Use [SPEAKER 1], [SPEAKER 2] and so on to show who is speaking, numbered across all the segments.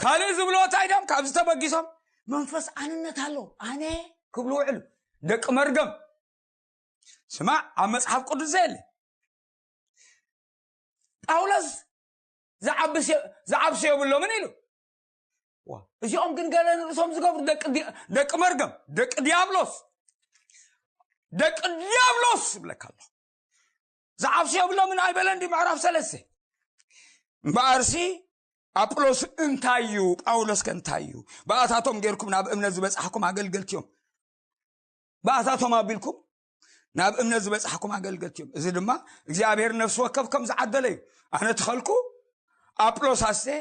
[SPEAKER 1] ካልእ ዝብሎ እንታይ ድም ካብ ዝተበጊሶም መንፈስ ኣንነት ኣሎ ኣነ ክብሉ ውዕሉ ደቂ መርገም ስማዕ ኣብ መፅሓፍ ቅዱስ ዘየለ ጳውሎስ ዝዓብሶ የብሎምን ኢሉ እዚኦም ግን ገለ ንርእሶም ዝገብሩ ደቂ መርገም ደቂ ዲያብሎስ ደቂ ዲያብሎስ ይብለካ ኣሎ ዝዓብሱ የብሎምን ኣይበለን ድዩ ምዕራፍ ሰለስተ እምበኣርሲ ኣጵሎስ እንታይ እዩ ጳውሎስ ከ እንታይ እዩ ብኣታቶም ጌርኩም ናብ እምነት ዝበፅሕኩም ኣገልገልቲ እዮም ብኣታቶም ኣቢልኩም ናብ እምነት ዝበፅሕኩም ኣገልገልቲ እዮም እዚ ድማ እግዚኣብሔር ነፍሲ ወከፍ ከም ዝዓደለ እዩ ኣነ ትኸልኩ ኣጵሎስ ኣስተ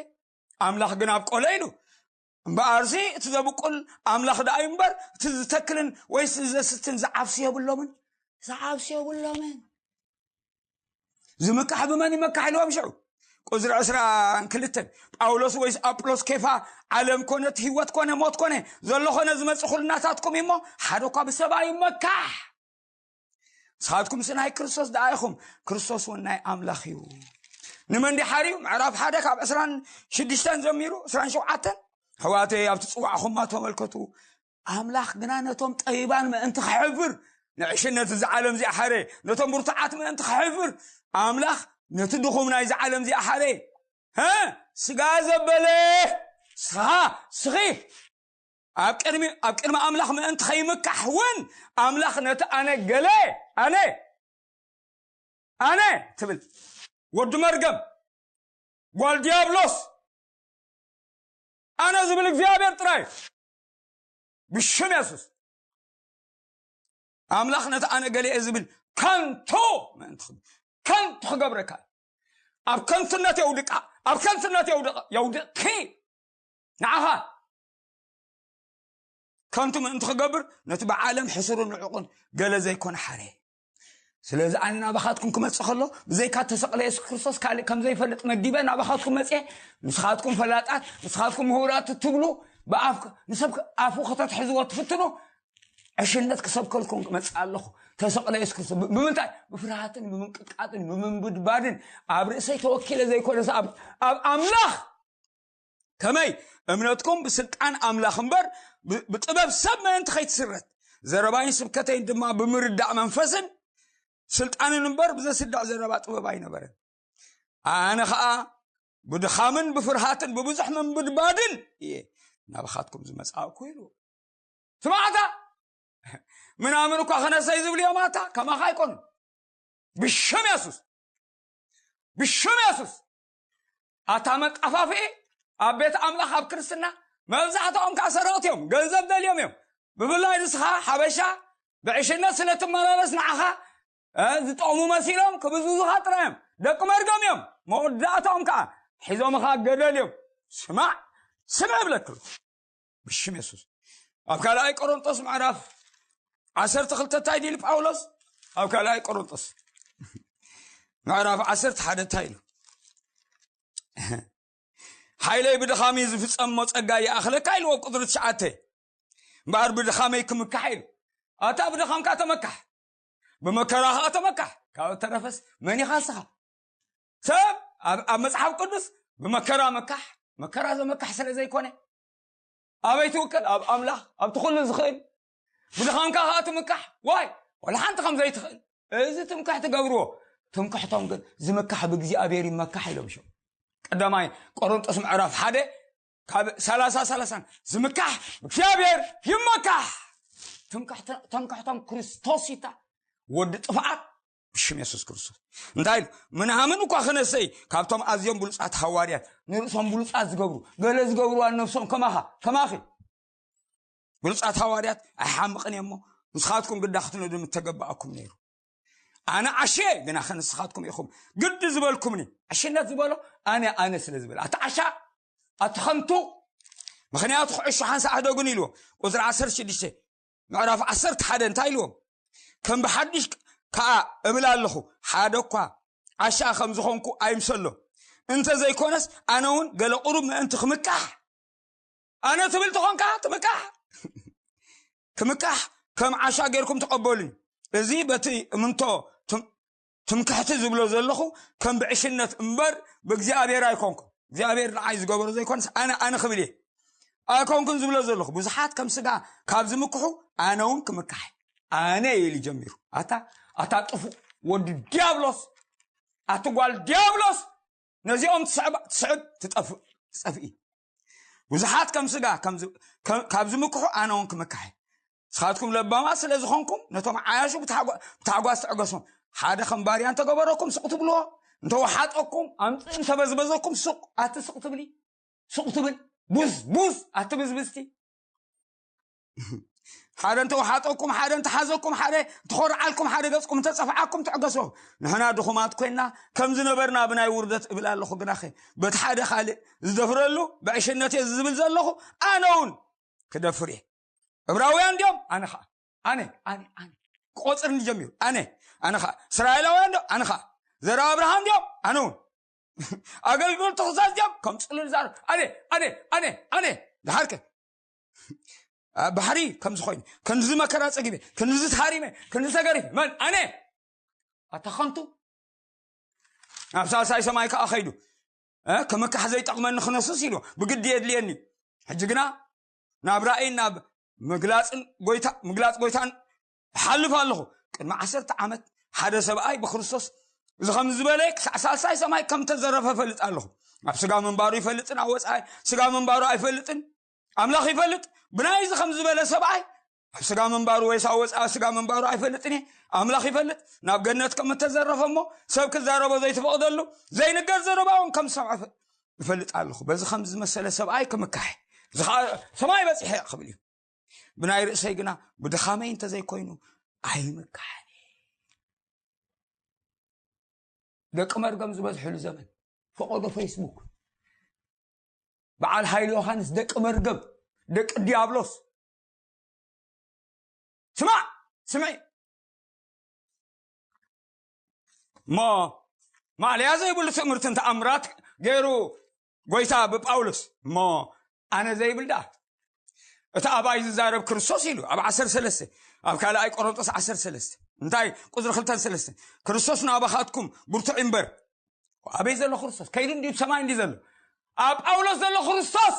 [SPEAKER 1] ኣምላኽ ግን ኣብ ቆሎ ኢሉ እምበኣርሲ እቲ ዘብቁል ኣምላኽ ደኣ እዩ እምበር እቲ ዝተክልን ወይስ ዘስትን ዝዓብሲ የብሎምን ዝዓብሲ የብሎምን ዝምካሕ ብመን ይመካሕ ኢልዎም ሽዑ ቁዝሪ ዕስራን ክልተን ጳውሎስ ወይስ ኣጵሎስ ኬፋ ዓለም ኮነት ህይወት ኮነ ሞት ኮነ ዘሎ ኮነ ዝመፅእ ኩልናታትኩም እዩሞ ሓደ እኳ ብሰብኣ ይመካሕ ንስኻትኩምሲ ናይ ክርስቶስ ደኣ ኢኹም ክርስቶስ እውን ናይ ኣምላኽ እዩ ንመን ዲሓር እዩ ምዕራፍ ሓደ ካብ ዕስራን ሽዱሽተን ዘሚሩ ዕስራን ሸውዓተን ሕዋተይ ኣብቲ ፅዋዕኹማ ተመልከቱ ኣምላኽ ግና ነቶም ጠቢባን ምእንቲ ክሕብር ንዕሽነት እዚ ዓለም እዚኣ ሓረ ነቶም ብርቱዓት ምእንቲ ክሕብር ኣምላኽ ነቲ ድኹም ናይዚ ዓለም እዚኣ ሓረ ስጋ ዘበለ ስኻ ስኺ ኣብ ቅድሚ ኣብ ቅድሚ ኣምላኽ ምእንቲ ከይምካሕ እውን ኣምላኽ ነቲ ኣነ ገለ ኣነ ኣነ ትብል ወዲ መርገም ጓል ዲያብሎስ ኣነ ዝብል እግዚኣብሔር ጥራይ ብሽም የሱስ ኣምላኽ ነቲ ኣነ ገሌ ዝብል ከንቶ ምእንቲ ከንቱ ክገብረካ ኣብ ከንቱነት የውድቃ ኣብ ከንቱነት የውድቂ ንዓኻ ከንቱ ምእንቲ ክገብር ነቲ ብዓለም ሕሱርን ንዕቑን ገለ ዘይኮነ ሓረ ስለዚ ኣነ ናባኻትኩም ክመፅእ ከሎ ብዘይካ ተሰቕለ የሱስ ክርስቶስ ካልእ ከም ዘይፈልጥ መጊበ ናባኻትኩም መፅአ ንስኻትኩም ፈላጣት ንስኻትኩም ምሁራት እትብሉ ብኣፍ ንሰብ ኣፉ ከተትሕዝዎ ትፍትኑ ዕሽነት ክሰብከልኩም ክመፅእ ኣለኹ ተሰቕለ የሱስ ክርስቶስ ብምንታይ ብፍርሃትን ብምንቅጥቃጥን ብምንብድባድን ኣብ ርእሰይ ተወኪለ ዘይኮነስ ኣብ ኣምላኽ ከመይ እምነትኩም ብስልጣን ኣምላኽ እምበር ብጥበብ ሰብ ምእንቲ ከይትስረት ዘረባይን ስብከተይን ድማ ብምርዳእ መንፈስን ስልጣንን እምበር ብዘስዳዕ ዘረባ ጥበብ ኣይነበረን ኣነ ከዓ ብድኻምን ብፍርሃትን ብብዙሕ ምንብድባድን እየ ናብኻትኩም ዝመፃእኩ ኢሉ ስማዕታ ምናምን እኳ ክነሰይ ዝብሉ እዮም ኣታ ከማኻ ኣይኮኑ ብሽም የሱስ ብሽም የሱስ ኣታ መጣፋፍኢ ኣብ ቤት ኣምላኽ ኣብ ክርስትና መብዛሕትኦም ከዓ ሰረቕቲ እዮም ገንዘብ ደልዮም እዮም ብፍላይ ንስኻ ሓበሻ ብዕሽነት ስለ ትመላለስ ንዓኻ ዝጠቕሙ መሲሎም ክብዝዙኻ ጥራይ እዮም ደቂ መርገም እዮም መወዳእታኦም ከዓ ሒዞምኻ ገደል እዮም ስማዕ ስምዕ ብለክሉ ብሽም የሱስ ኣብ ካልኣይ ቆሮንጦስ ምዕራፍ ዓሰርተ ክልተ እንታይ ድኢሉ ጳውሎስ ኣብ ካልኣይ ቆሮንጦስ ምዕራፍ ዓሰርተ ሓደ እንታይ ኢሉ ሓይለይ ብድኻሚ ዝፍፀም ሞ ፀጋ ይኣኽለካ ኢልዎ ኣብ ቁፅሪ ትሽዓተ እምበኣር ብድኻመይ ክምካሕ ኢሉ ኣታ ብድኻምካ ተመካሕ ብመከራ ከዓ ተመካሕ ካብ እተረፈስ መን ኢኻ ስኻ ሰብ ኣብ መፅሓፍ ቅዱስ ብመከራ መካሕ መከራ ዘመካሕ ስለ ዘይኮነ ኣበይ ትውከል ኣብ ኣምላኽ ኣብቲ ኩሉ ዝኽእል ብድኻምካ ከዓ ትምካሕ ዋይ ዋላ ሓንቲ ከም ዘይትኽእል እዚ ትምካሕ ትገብርዎ ትምክሕቶም ግን ዝምካሕ ብእግዚኣብሔር ይመካሕ ኢሎም ሸም ቀዳማይ ቆሮንጦስ ምዕራፍ ሓደ ካብ ሰላሳ ሰላሳን ዝምካሕ ብእግዚኣብሔር ይመካሕ ትምክሕቶም ክርስቶስ ይታ ወዲ ጥፍኣት ብሽም የሱስ ክርስቶስ እንታይ ኢሉ ምናምን እኳ ክነሰይ ካብቶም ኣዝዮም ብሉፃት ሃዋርያት ንርእሶም ብሉፃት ዝገብሩ ገለ ዝገብርዋ ነብሶም ከማኻ ከማኺ ብሉፃት ሃዋርያት ኣይሓምቕን እየሞ ንስኻትኩም ግዳ ክትነዱ ምተገባኣኩም ነይሩ ኣነ ዓሸ ግና ከንስኻትኩም ኢኹም ግዲ ዝበልኩምኒ ዓሽነት ዝበሎ ኣነ ኣነ ስለ ዝበለ ኣቲ ዓሻ ኣቲ ከምቱ ምክንያቱ ክዕሹ ሓንሳ ኣህደጉን ኢልዎ ቁፅሪ 16 ምዕራፍ ዓሰርተ ሓደ እንታይ ኢልዎም ከም ብሓድሽ ከዓ እብል ኣለኹ ሓደ እኳ ዓሻ ከም ዝኾንኩ ኣይምሰሎ እንተ ዘይኮነስ ኣነ እውን ገለ ቁሩብ ምእንቲ ክምካሕ ኣነ ትብል ተኾንካ ትምካሕ ክምካሕ ከም ዓሻ ጌርኩም ተቐበሉኝ እዚ በቲ እምንቶ ትምክሕቲ ዝብሎ ዘለኹ ከም ብዕሽነት እምበር ብእግዚኣብሔር ኣይኮንኩን እግዚኣብሔር ንዓይ ዝገበሮ ዘይኮነስ ኣነ ኣነ ክብል እየ ኣይኮንኩን ዝብሎ ዘለኹ ብዙሓት ከም ስጋ ካብ ዝምክሑ ኣነ እውን ክምካሕ ኣነ ኢሉ ጀሚሩ ኣታ ኣታ ጥፉእ ወዲ ዲያብሎስ ኣቲ ጓል ዲያብሎስ ነዚኦም ትስዕብ ትጠፍእ ትፀፍኢ ብዙሓት ከም ስጋ ካብ ዝምክሑ ኣነ እውን ክምካሕ ንስኻትኩም ለባማት ስለ ዝኾንኩም ነቶም ዓያሹ ብታሕጓስ ትዕገሶም ሓደ ከም ባርያ እንተገበረኩም ስቕ ትብልዎ እንተወሓጠኩም ኣምፅእ እንተበዝበዘኩም ሱቅ ኣቲ ስቕ ትብሊ ሱቅ ትብል ቡዝ ቡዝ ኣቲ ብዝብዝቲ ሓደ እንተወሓጠኩም ሓደ እንተሓዘኩም ሓደ እንተኾርዓልኩም ሓደ ገፅኩም እንተፀፍዓኩም ትዕገሶ ንሕና ድኹማት ኮይና ከም ዝነበርና ብናይ ውርደት እብል ኣለኹ ግናኸ በቲ ሓደ ካልእ ዝደፍረሉ ብዕሽነት እየ ዝብል ዘለኹ ኣነ እውን ክደፍር እየ እብራውያን ድዮም ኣነ ከዓ ኣነ ኣነ ኣነ ቆፅር እንጀሚሩ ኣነ ኣነ ከዓ እስራኤላውያን ዶ ኣነ ከዓ ዘራ ኣብርሃም ድዮም ኣነ እውን ኣገልግሎት ተኽሳስ ድዮም ከም ፅልል ዛር ኣነ ኣነ ኣነ ኣነ ድሓርከ ኣብ ባሕሪ ከምዚ ኮይኑ ክንዚ መከራ ፀጊበ ክንዚ ተሃሪመ ክንዚ ተገሪፈ መን ኣነ ኣታ ከንቱ ናብ ሳልሳይ ሰማይ ከዓ ከይዱ እ፣ ክምካሕ ዘይጠቕመኒ ክነስስ ኢሉ ብግዲ የድልየኒ ሕጂ ግና ናብ ራእይን ናብ ምግላጽን ጎይታ ምግላጽ ጎይታን እሓልፍ ኣለኹ ቅድሚ ዓሰርተ ዓመት ሓደ ሰብኣይ ብክርስቶስ እዚ ከም ዝበለ ክሳዕ ሳልሳይ ሰማይ ከም ተዘረፈ ፈልጥ ኣለኹ ኣብ ስጋ ምንባሩ ይፈልጥን ኣብ ወፃኢ ስጋ ምንባሩ ኣይፈልጥን ኣምላኽ ይፈልጥ ብናይ እዚ ከም ዝበለ ሰብኣይ ኣብ ስጋ ምንባሩ ወይስ ኣብ ወፃኢ ስጋ ምንባሩ ኣይፈልጥን እየ ኣምላኽ ይፈልጥ ናብ ገነት ከም እተዘረፈ እሞ ሰብ ክዛረቦ ዘይተፈቕደሉ ዘይንገር ዘረባ እውን ከም ዝሰምዐ ይፈልጥ ኣለኹ በዚ ከም ዝመሰለ ሰብኣይ ክምካሕ እዚ ከዓ ሰማይ በፂሐ ክብል እዩ ብናይ ርእሰይ ግና ብድኻመይ እንተዘይኮይኑ ኣይምካሕን ደቂ መርገም ዝበዝሕሉ ዘመን ፈቐዶ ፌስቡክ በዓል ሃይል ዮሃንስ ደቂ መርገም ደቂ ዲያብሎስ ስማዕ ስምዒ እሞ ማእለያ ዘይብሉ ትእምርትን ተኣምራት ገይሩ ጎይታ ብጳውሎስ እሞ ኣነ ዘይብል ደኣ እቲ ኣባይ ዝዛረብ ክርስቶስ ኢሉ ኣብ 13 ኣብ ካልኣይ ቆሮንጦስ 13 እንታይ ቁፅሪ 23 ክርስቶስ ናባኻትኩም ብርቱዕ እምበር ኣበይ ዘሎ ክርስቶስ ከይዱ እንዲዩ ሰማይ እንዲ ዘሎ ኣብ ጳውሎስ ዘሎ ክርስቶስ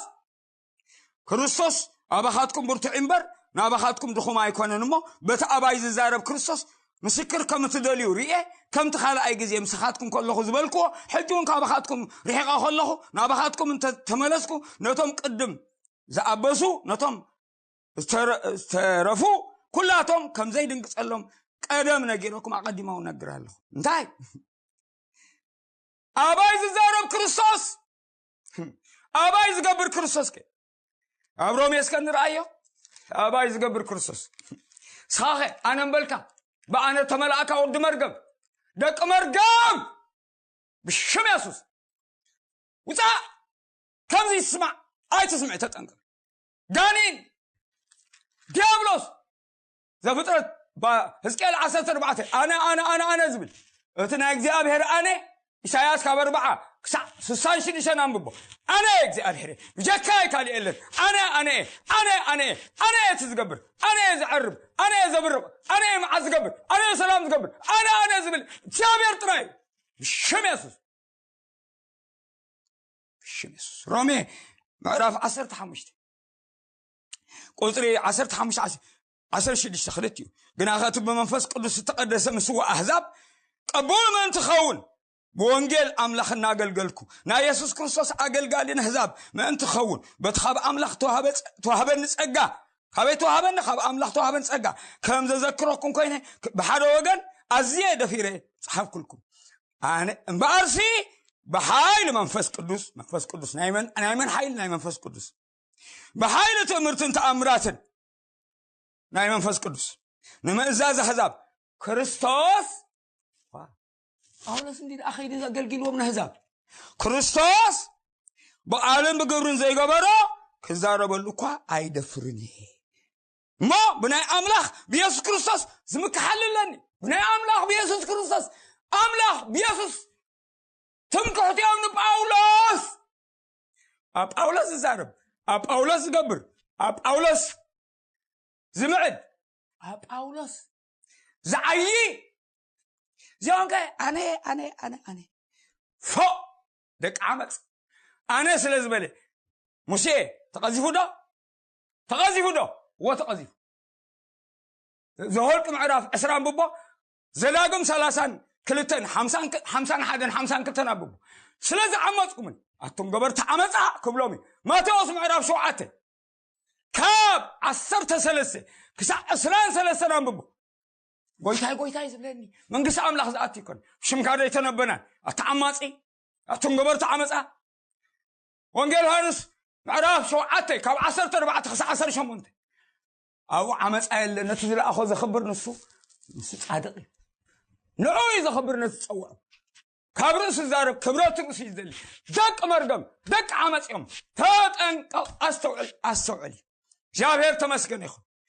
[SPEAKER 1] ክርስቶስ ኣባኻትኩም ብርቱዕ እምበር ናባኻትኩም ድኹም ኣይኮነን እሞ በቲ ኣባይ ዝዛረብ ክርስቶስ ምስክር ከም እትደልዩ ርኤ ከምቲ ካልኣይ ግዜ ምስኻትኩም ከለኹ ዝበልክዎ ሕጂ እውን ካባኻትኩም ርሒቐ ከለኹ ናባኻትኩም እንተተመለስኩ ነቶም ቅድም ዝኣበሱ ነቶም ዝተረፉ ኩላቶም ከምዘይ ድንግፀሎም ቀደም ነጊረኩም ኣቐዲማው ነግር ኣለኹ እንታይ ኣባይ ዝዛረብ ክርስቶስ ኣባይ ዝገብር ክርስቶስ ከ ኣብ ሮሜ እስከ ንርኣዮ ኣባይ ዝገብር ክርስቶስ ስኻኸ ኣነ እምበልካ ብኣነ ተመላእካ ወዲ መርገም ደቂ መርገም ብሽም የሱስ ውፃእ ከምዚ ይስማዕ ኣይትስምዕ ተጠንቀ ጋኒን ዲያብሎስ ዘፍጥረት ህዝቅኤል ዓሰርተ ኣርባዕተ ኣነ ኣነ ኣነ ኣነ ዝብል እቲ ናይ እግዚኣብሔር ኣነ ኢሳያስ ካብ ኣርባዓ ክሳዕ ስሳን ሽዱሽተን ኣንብቦ ኣነ እግዚኣብሔር ብጀካ ካልእ የለን ኣነ ኣነ ኣነ ኣነ ኣነ እቲ ዝገብር ኣነ ዝዐርብ ኣነ ዘብርቕ ኣነ መዓት ዝገብር ኣነ ሰላም ዝገብር ኣነ ኣነ ዝብል እግዚኣብሔር ጥራይ ብሽም የሱስ ብሽም የሱስ ሮሜ ምዕራፍ ዓሰርተ ሓሙሽተ ቁፅሪ ዓሰርተ ሓሙሽተ ዓሰርተ ሽዱሽተ ክልት እዩ ግና ከቲ ብመንፈስ ቅዱስ ዝተቀደሰ ምስዋ ኣህዛብ ቀቡል ምእንቲ ኸውን ብወንጌል ኣምላኽ እናገልገልኩ ናይ የሱስ ክርስቶስ ኣገልጋሊ ንህዛብ ምእንቲ ኸውን በቲ ካብ ኣምላኽ ተዋህበኒ ጸጋ ካበይ ተዋህበኒ ካብ ኣምላኽ ተዋህበኒ ጸጋ ከም ዘዘክረኩም ኮይነ ብሓደ ወገን ኣዝየ ደፊረ ጸሓፍኩልኩም ኣነ እምበኣርሲ ብሓይሊ መንፈስ ቅዱስ መንፈስ ቅዱስ ናይ መን ሓይሊ ናይ መንፈስ ቅዱስ ብሓይሊ ትእምርትን ተኣምራትን ናይ መንፈስ ቅዱስ ንምእዛዝ ኣሕዛብ ክርስቶስ ጳውሎስ እንዲ ኣኸይዲ ኣገልጊልዎም ንኣሕዛብ ክርስቶስ ብቃልን ብግብርን ዘይገበሮ ክዛረበሉ እኳ ኣይደፍርን እየ እሞ ብናይ ኣምላኽ ብየሱስ ክርስቶስ ዝምክሓል ኣለኒ ብናይ ኣምላኽ ብየሱስ ክርስቶስ ኣምላኽ ብየሱስ ትምክሕትኦም ንጳውሎስ ኣብ ጳውሎስ ዝዛረብ ኣብ ጳውሎስ ዝገብር ኣብ ጳውሎስ ዝምዕድ ኣብ ጳውሎስ ዝዓዪ እዚኦም ከ ኣነ ኣነ ኣነ ኣነ ፎእ ደቂ ዓመፅ ኣነ ስለ ዝበለ ሙሴ ተቐዚፉ ዶ ተቐዚፉ ዶ እዎ ተቐዚፉ ዘወልቂ ምዕራፍ ዕስራ ንብቦ ዘዳግም ሰላሳን ክልተን ሓምሳን ሓደን ሓምሳን ክልተን ኣንብቡ ስለ ዝዓመፅኩምን ኣቱም ገበርቲ ዓመፃ ክብሎም እዩ ማቴዎስ ምዕራፍ ሸውዓተ ካብ ዓሰርተ ሰለስተ ክሳብ ዕስራን ሰለስተን ኣንብቡ ጎይታይ ጎይታይ ዝብለኒ መንግስቲ ኣምላኽ ዝኣት ይኮን ሽምካ ዘይተነበናን ኣቲ ዓማፂ ኣቱም ገበርቲ ዓመፃ ወንጌል ዮሃንስ ምዕራፍ ሸውዓተ ካብ ዓሰርተ ኣርባዕተ ክሳብ ዓሰርተ ሸሞንተ ኣብኡ ዓመፃ የለ ነቲ ዝለኣኾ ዘኽብር ንሱ ንሱ ፃድቕ እዩ ንዑ እዩ ዘኽብር ነቲ ፀውዖ ካብ ርእሱ ዛረብ ክብረት ርእሱ እዩ ዝደሊ ደቂ መርገም ደቂ ዓመፅ እዮም ተጠንቀቕ ኣስተውዕል ኣስተውዕል እዩ እግዚኣብሔር ተመስገን ይኹን